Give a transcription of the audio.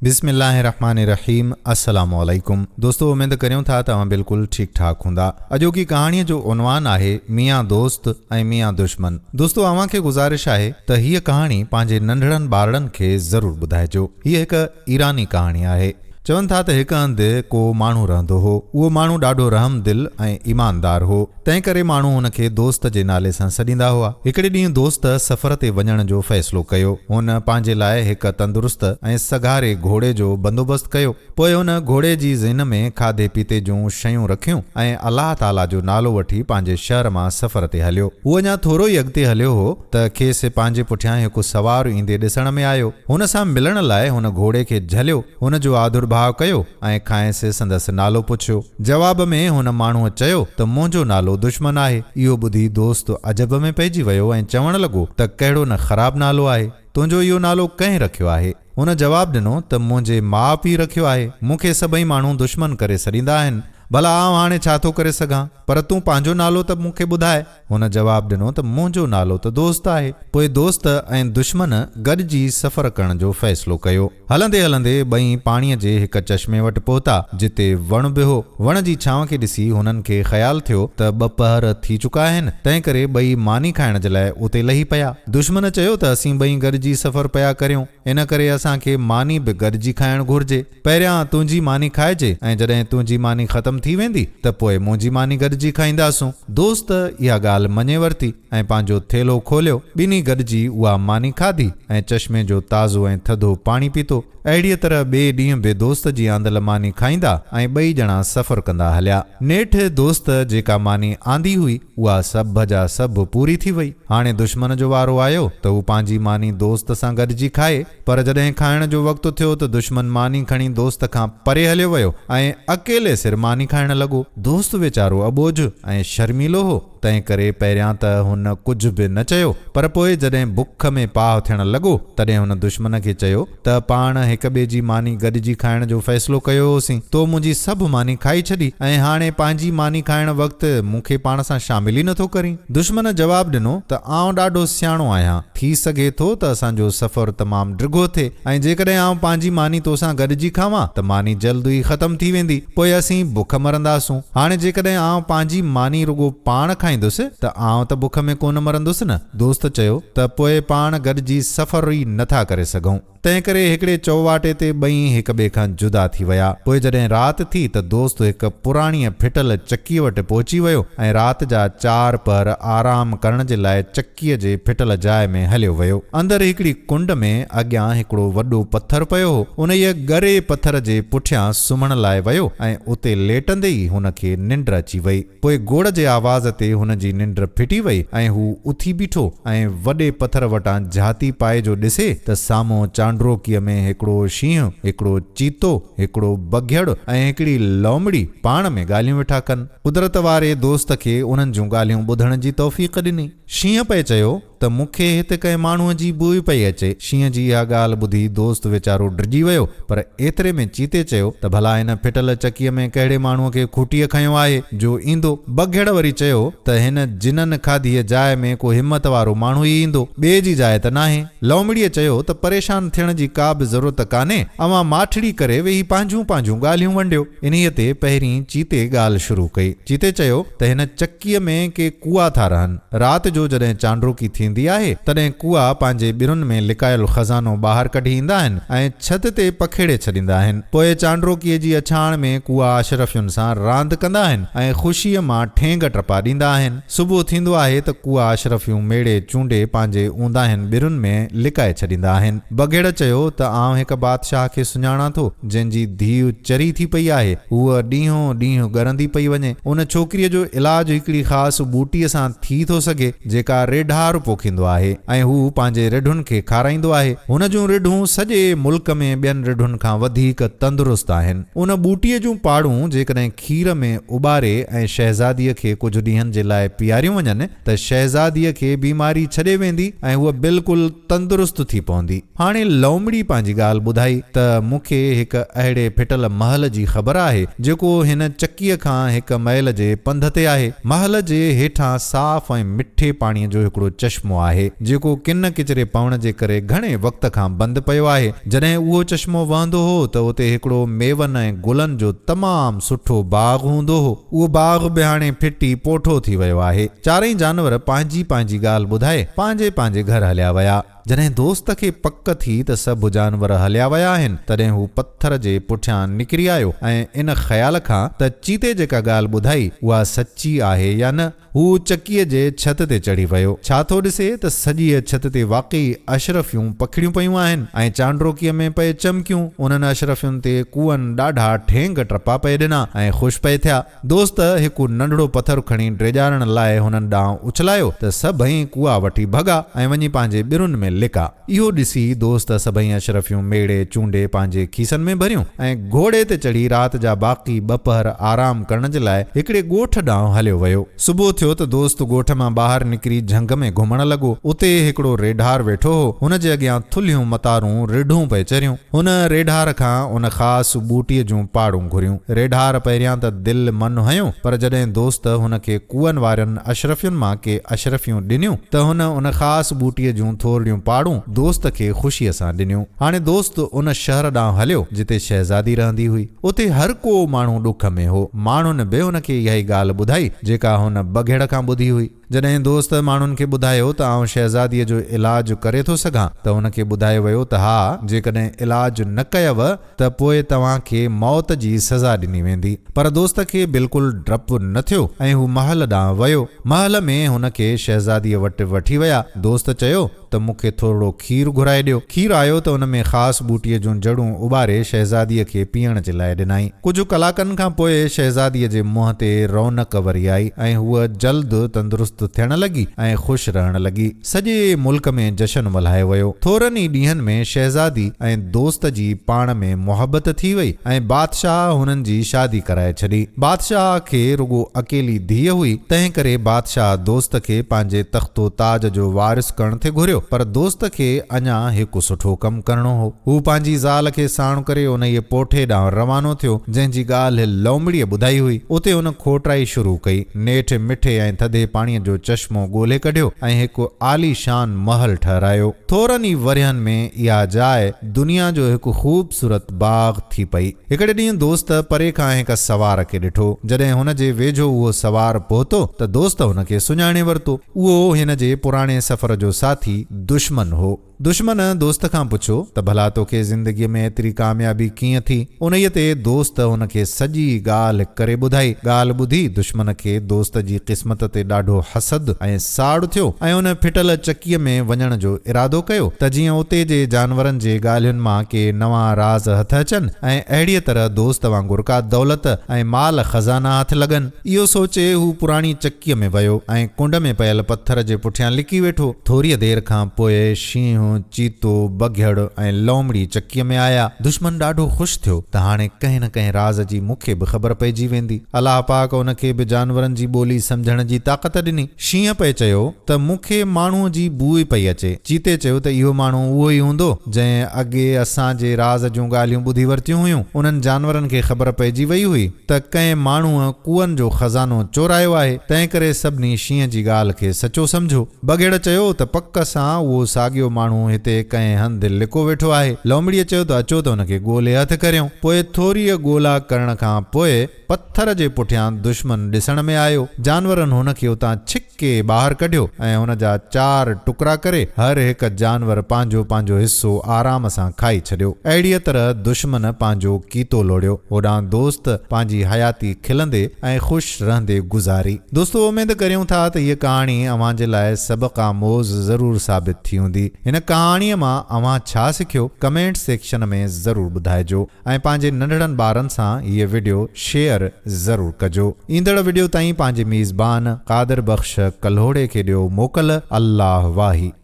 بسم الله الرحمٰن الرحيم السلام عليڪم دوستو اميد ڪريون ٿا ته اوهان بلڪل ٺيڪ ٺاڪ هوندا اڄوڪي ڪهاڻي جو عنوان آهي ميان دوست ۽ ميان دشمن دوستو اوهان کي گذارش آهي ته هيء ڪهاڻي پنهنجي ننڍڙن ٻارڙن کي ضرور ٻڌائجو هيء هڪ ايراني ڪهاڻي آهي چون ٿا ته هڪ هنڌ ڪو ماڻهو رهندو هو اهو ماڻهو ڏاڍو رحم دل ۽ ايماندار هو. تنهن ڪري ماڻهو هن کي دوست جي نالي سان سڏيندا هئا. هڪڙي ڏينهن دوست سفر تي وڃڻ جو فيصلو ڪيو. هن پنهنجي لاء هڪ تندرست ۽ سگهاري گهوڙي جو بندوبست ڪيو. پوء هن گهوڙي جي ذهن ۾ کاڌي پيتي جون شيون رکيون ۽ الله تعاليٰ جو نالو وٺي پنهنجي شهر مان سفر تي هليو. هو اڃا ٿورو ئي اڳتي هليو هو ته کيس پنهنجي پٺيان هڪ سوار ايندي ڏسڻ ۾ آيو. هن سان ملڻ لاء هن گهوڙي کي جهليو. هن جو آڌرڀاء ڪيو ۽ کانئس سندس نالو پڇيو. جواب ۾ هن ماڻهوء چيو ته منهنجو نالو دشمن آهي. اهو ٻڌي دوست عجب ۾ پئجي ويو ۽ چوڻ لڳو ته ڪهڙو نه خراب نالو آهي. تنهنجو اهو نالو ڪنهن رکيو آهي؟ هن جواب ڏنو ته منهنجي ماء پيء رکيو آهي. مون کي سڀئي ماڻهو دشمن ڪري سڏيندا آهن. ڀلا آئون هاڻي ڇا ٿو ڪري سگهان؟ پر تون پنهنجو نالو ته مون کي ٻڌاء. هن جواب ڏنو ته منهنجو نالو ته دوست آهي. پوء دوست ۽ دشمن گڏجي سفر ڪرڻ جو فيصلو ڪيو. هلندي هلندي ٻئي پاڻيء جي هڪ چشمي وٽ پهتا، جتي وڻ به هو. وڻ جي ڇانو کي ڏسي هنن کي خيال ٿيو ته ٻه پهر ٿي چڪا آهن، تنهنڪري ٻئي ماني کائڻ جي لاء اتي لهي پيا. دشمن چيو ته اسين ٻئي گڏجي سفر پيا ڪريون، ان ڪري اسان کي ماني به گڏجي کائڻ گهرجي. پهريان تنهنجي ماني کائجي ۽ جڏهن تنهنجي ماني ختم ٿي ويندي ته پوء منهنجي ماني گڏجي کائينداسون. دوست اها ڳالهه مڃي ورتي ۽ پنهنجو ٿيلهو کوليو. ٻنهي گڏجي اها ماني کاڌي ۽ چشمي جو تازو ۽ ٿڌو پاڻي پيتو. اهڙيء طرح ٻئي ڏينهن به دوست جي آندل ماني کائيندا ۽ ٻئي ڄڻا سفر ڪندا هليا. نيٺ دوست جيڪا ماني آندي هئي، اها سڀ جا سڀ پوري ٿي وئي. هاڻي دشمن جو وارو آيو ته هو پنهنجي ماني دوست سان گڏجي کائي. پر جڏهن کائڻ جو وقت ٿيو ته دشمن ماني کڻي دوست کان پري هليو ويو ۽ اڪيلي سر ماني کائڻ لڳو. دوست ويچارو اٻوجهه ۽ شرميلو هو، تنهنڪري پهريان ته هن ڪجهه به نه چيو، پر پوء جڏهن بک ۾ پاهه ٿيڻ لڳو، تڏهن هن دشمن کي چيو ته پاڻ هڪ ٻئي جي ماني گڏجي کائڻ جو فيصلو ڪيو هوسين، تو منهنجي سڀ ماني کائي ڇڏي ۽ هاڻي پنهنجي ماني کائڻ وقت مون کي پاڻ سان شامل ئي نٿو ڪرين. دشمن جواب ڏنو ته آئون ڏاڍو سياڻو آهيان، ٿي سگهي ٿو ته اسان جو سفر تمام ڊگهو ٿئي ۽ جيڪڏهن آئون پنهنجي ماني تو سان گڏجي کاوان ته ماني جلد ئي ختم ٿي ويندي، پوء اسين بک مرنداسون. هاڻي جيڪڏهن آئون پنهنجي ماني رڳو پاڻ کائيندس ته آئون ته بک ۾ ڪونه مرندس نه. دوست چيو ته پوء پاڻ گڏجي سفر ئي نٿا ڪري سگهون. تنهنڪري هڪڙي چؤواٽي تي ٻئي هڪ ٻئي کان جدا ٿي ويا. پوء جڏهن رات ٿي ته دوست هڪ پراڻيء ڦٽل چڪيء وٽ پهچي ويو ۽ رات جا چار پهر آرام ڪرڻ جي لاء چڪيء جي ڦٽل جاء ۾ هليو ويو. اندر هڪڙي ڪنڊ ۾ اڳيان هڪڙو وڏو پٿر پيو هو. انهيء ڳري پٿر جي پٺيان سمهڻ لاء ويو ۽ اتي ليٽندي ئي هن کي ننڊ اچي وئي. پوء گوڙ جي آواز تي هن جي ننڊ ڦٽي وئي ۽ هو اٿي بيٺو ۽ وڏي پٿر وٽان جهاتي پائي جو ڏسي ته سامهون چانڊروڪيء ۾ هڪڙو شينهن، هڪڙو چيتو، هڪڙو بگهڙ ۽ هڪڙي لومڙي پاڻ ۾ ڳالهيون ويٺا ڪن. قدرت واري دوست کي انهن جون ڳالهيون ٻڌڻ جي توفيق ڏني. شينهن پئي چيو. ته مون کي هت ڪنهن ماڻهوء جي بوء پئي اچي. شينهن جي اها ڳالهه ٻڌي دوست ويچارو ڊڄي ويو، پر ايتري ۾ چيتي چيو ته ڀلا هن ڦٽل چڪيء ۾ ڪهڙي ماڻهوء کي کوٽيء کنيو آهي، جو ايندو؟ بگهڙ وري چيو ته هن جنن کاڌيء جاء ۾ ڪو همت وارو ماڻهو ئي ايندو، ٻئي جي جاء ته ناهي. لومڙيء چيو ته پريشان ٿيڻ جي ڪا به ضرورت ڪانهي، اوهان ماٺڙي ڪري ويهي پنهنجون پنهنجون ڳالهيون ونڊيو. انهيء تي پهرين چيتي ڳالهه شروع ڪئي. چيتي چيو ته هن چڪيء. ڪيء ۾ ڪي ڪوئا ٿا رهن. رات جو جڏهن چانڊروڪي ٿيندي آهي، تڏهن ڪوئا پنهنجي ٻرن ۾ لڪايل خزانو ٻاهر ڪڍي ايندا آهن ۽ ڇت تي پکيڙي ڇڏيندا آهن. پوء چانڊروڪيء جي اڇاڻ ۾ ڪوئا اشرفين سان راند ڪندا آهن ۽ خوشيء مان ٺينگ ٽپا ڏيندا آهن. صبح ٿيندو آهي ته ڪوئا اشرفيون ميڙي چونڊي پنهنجي اونداهين ٻرن ۾ لڪائي ڇڏيندا آهن. بگهڙ چيو ته آئون هڪ بادشاهه کي سڃاڻان ٿو. جنهن جي ڌيء چري ٿي پئي آهي، هوء ڏينهون ڏينهن ڳرندي پئي وڃي. ان ڇوڪريء جو علاج هڪڙي خاص ٻوٽيء سان ٿي ٿو سگهي، جيڪا ريڍار پوکيندو آهي ۽ هو پنهنجي رڍن کي کارائيندو آهي. هن جون رڍون سڄي ملڪ ۾ ٻين رڍن کان وڌيڪ تندرست آهن. ان ٻوٽيء جون پاڙون جيڪڏهن کير ۾ اٻاري ۽ شهزاديء کي ڪجهه ڏينهن جي لاء پياريون وڃن، ته شهزاديء کي بيماري ڇڏي ويندي ۽ هوء بلڪل تندرست ٿي پوندي. هاڻي لومڙي پنهنجي ڳالهه ٻڌائي ته مون کي هڪ اهڙي ڦٽل محل جي خبر آهي، جيڪو هن چڪيء کان هڪ ميل جي پنڌ تي آهي. محل جي هيٺان صاف ۽ مٺي پاڻيء جو هڪڙو چشمو آهي، جيڪو ڪن ڪچري پوڻ جي ڪري گهڻي وقت کان بند پيو آهي. جڏهن اهو چشمو وهندو هو ته اتي هڪڙو ميون ۽ گلن جو تمام سٺو باغ هوندو هو. اهو باغ به هاڻي ڦٽي پوٺو ٿي ويو آهي. چارئي جانور پنهنجي پنهنجي ڳالهه ٻڌائي پنهنجي پنهنجي گهر هليا ويا. جڏهن دوست کي پڪ ٿي ته سڀ جانور هليا ويا آهن، تڏهن هو پٿر جي پٺيان نڪري آيو ۽ ان خيال کان ته چيتي جيڪا ڳالهه ٻڌائي اها سچي آهي يا نه، هو چڪيء جي ڇت تي چڙهي ويو. ڇا ٿو ڏسي ته سڄيء ڇت تي واقعي اشرفيون پکڙيون پيون آهن ۽ چانڊروڪيء ۾ پئي چمڪيون. انهن اشرفين تي ڪوئن ڏاڍا ٺينگ ٽپا پئي ڏنا ۽ خوش پئي ٿيا. دوست هڪ ننڍڙو پٿر کڻي ڊيڄارڻ لاء هنن ڏانهن اڇلايو ته سڀئي ڪوئا وٺي ڀڳا ۽ وڃي پنهنجي ٻرن ۾ لڪا. اهو ڏسي دوست سڀئي اشرفيون ميڙي چونڊي پنهنجي کيسن ۾ ڀريون ۽ گهوڙي تي چڙهي رات جا باقي ٻه پهر آرام ڪرڻ جي لاء هڪڙي ڳوٺ ڏانهن هليو ويو. صبح ٿيو ته دوست ڳوٺ مان ٻاهر نڪري جهنگ ۾ گهمڻ لڳو. اتي هڪڙو ريڍار ويٺو هو. هن جي اڳيان ٿلهيون متارون ريڍون پئي چريون. هن ريڍار کان ان خاص ٻوٽي جون پاڙون گهريون. ريڍار پهريان ته دل من هنيو، پر جڏهن دوست هن کي ڪوئن وارين اشرفين مان ڪي اشرفيون ڏنيون، ته هن ان خاص ٻوٽي جون ٿورڙيون پاڙون دوست کي خوشيء سان ڏنيون. هاڻي دوست ان شهر ڏانهن هليو، جتي شهزادي رهندي هئي. اتي هر ڪو ماڻهو ڏک ۾ هو. ماڻهن به هن کي اها ئي ڳالهه ٻڌائي، جيڪا هن بگهڙ کان ٻڌي هئي. جڏهن دوست ماڻهن کي ٻڌايو ته آئون شهزاديء جو علاج ڪري ٿو سگهان ته هن کي ٻڌايو ويو ته ها، جيڪڏهن علاج نه ڪيؤ ته پوء توهان کي موت جي سزا ڏني ويندي. پر دوست کي بلڪل ڊپ نه ٿيو ۽ هو محل ڏانهن ويو. محل ۾ هن کي شهزاديء وٽ وٺي ويا. دوست چيو. ته مون کي ٿورڙو کير گهرائي ڏيو. کير آيو ته ان ۾ خاص ٻوٽيء جون جڙون اٻاري شهزاديء کي پيئڻ جي لاء ڏنائين. ڪجهه ڪلاڪن کان پوء شهزاديء جي منهن تي رونق وري آئي ۽ هوء جلد تندرست ٿيڻ لڳي ۽ خوش رهڻ لڳي. سڄي ملڪ ۾ جشن ملهايو ويو. ٿورن ئي ڏينهن ۾ شهزادي ۽ دوست جي پاڻ ۾ محبت ٿي وئي ۽ بادشاهه هنن جي شادي ڪرائي ڇڏي. بادشاهه کي رڳو اڪيلي ڌيء هئي، تنهن ڪري بادشاهه دوست کي پنهنجي تخت و تاج جو وارث ڪرڻ ٿي گهريو، پر دوست کي اڃا هڪ سٺو ڪم ڪرڻو هو. هو پنهنجي زال کي ساڻ ڪري انهيء پوٺي ڏانهن روانو ٿيو، جنهن جي ڳالهه لومڙيء ٻڌائي هئي. اتي هن کوٽرائي شروع ڪئي. نيٺ مٺي ۽ ٿڌي پاڻيء جو چشمو ڳولهي ڪڍيو ۽ هڪ عاليشان محل ٺهرايو. ٿورن ئي ورهين ۾ اها جاء دنيا جو هڪ خوبصورت باغ ٿي پئي. هڪڙي ڏينهن دوست پري کان هڪ سوار کي ڏٺو. جڏهن هن جي ويجهو اهو سوار پهتو ته دوست هن کي سڃاڻي ورتو. اهو هن جي پراڻي سفر جو ساٿي دشمن هو. دشمن دوست کان پڇيو ته ڀلا توکي زندگيء ۾ ايتري ڪاميابي ڪيئن ٿي؟ انهيء تي دوست هن کي سڄي ڳالهه ڪري ٻڌائي. ڳالهه ٻڌي دشمن کي دوست جي قسمت تي ڏاڍو حسد ۽ ساڙ ٿيو ۽ ان ڦٽل چڪيء ۾ وڃڻ جو ارادو ڪيو ته جيئن اتي جي جانورن جي ڳالهين مان ڪي نوان راز هٿ اچن ۽ اهڙيء طرح دوست وانگر ڪا دولت ۽ مال خزانا هٿ لڳن. اهو سوچي هو پراڻي چڪيء ۾ ويو ۽ ڪنڊ ۾ پيل پٿر جي پٺيان لڪي ويٺو. ٿوريء دير کان پوء شينهن، چيتو، بگهڙ ۽ لومڙي چڪيء ۾ آيا. دشمن ڏاڍو خوش ٿيو ته هاڻي ڪنهن نه ڪنهن راز جي مون کي به خبر پئجي ويندي. الله پاڪ ان کي به جانورن جي ٻولي سمجهڻ جي طاقت ڏني. شينهن پئي چيو ته مون کي ماڻهوء جي بوء پئي اچي. چيتي چيو ته اهو ماڻهو اهو ئي هوندو، جنهن اڳي اسان جي راز جون ڳالهيون ٻڌي ورتيون هيون. انهن جانورن کي خبر پئجي وئي هئي ته ڪنهن ماڻهوء ڪوئن جو خزانو چورايو آهي، تنهنڪري سڀني شينهن جي ڳالهه کي سچو سمجهيو. بگهڙ چيو ته پڪ سان اهو ساڳيو ماڻهو هتي ڪنهن هنڌ لڪو ويٺو آهي. لومڙيء چيو ته اچو ته ان کي ڳولي هٿ ڪريون. پوء ٿوريء ڳولا ڪرڻ کان پوء پٿر جي پٺيان دشمن ڏسڻ ۾ آيو. جانورن هن کي اتان ڇڪي ٻاهر ڪڍيو ۽ هن جا چار ٽڪرا ڪري هر هڪ جانور پنهنجو پنهنجو حصو آرام سان کائي ڇڏيو. اهڙيء طرح دشمن پنهنجو ڪيتو لوڙهيو. هوڏانهن دوست پنهنجي حياتي کلندي ۽ خوش خوش رهندي گذاري. دوستو اميد ڪريون ٿا ته هيء ڪهاڻي اوهان جي لاء سبق آموز ضرور ثابت ٿي هوندي. هن ڪهاڻيء مان اوهان ڇا سکيو ڪمينٽ سيڪشن ۾ ضرور ٻڌائجو ۽ پنهنجي ننڍڙن ٻارن سان هيء وڊيو شيئر ضرور ڪجو. ايندڙ وڊيو تائين پنهنجي ميزبان قادر بخش ڪلهوڙي کي ڏيو موڪل. الله واهي.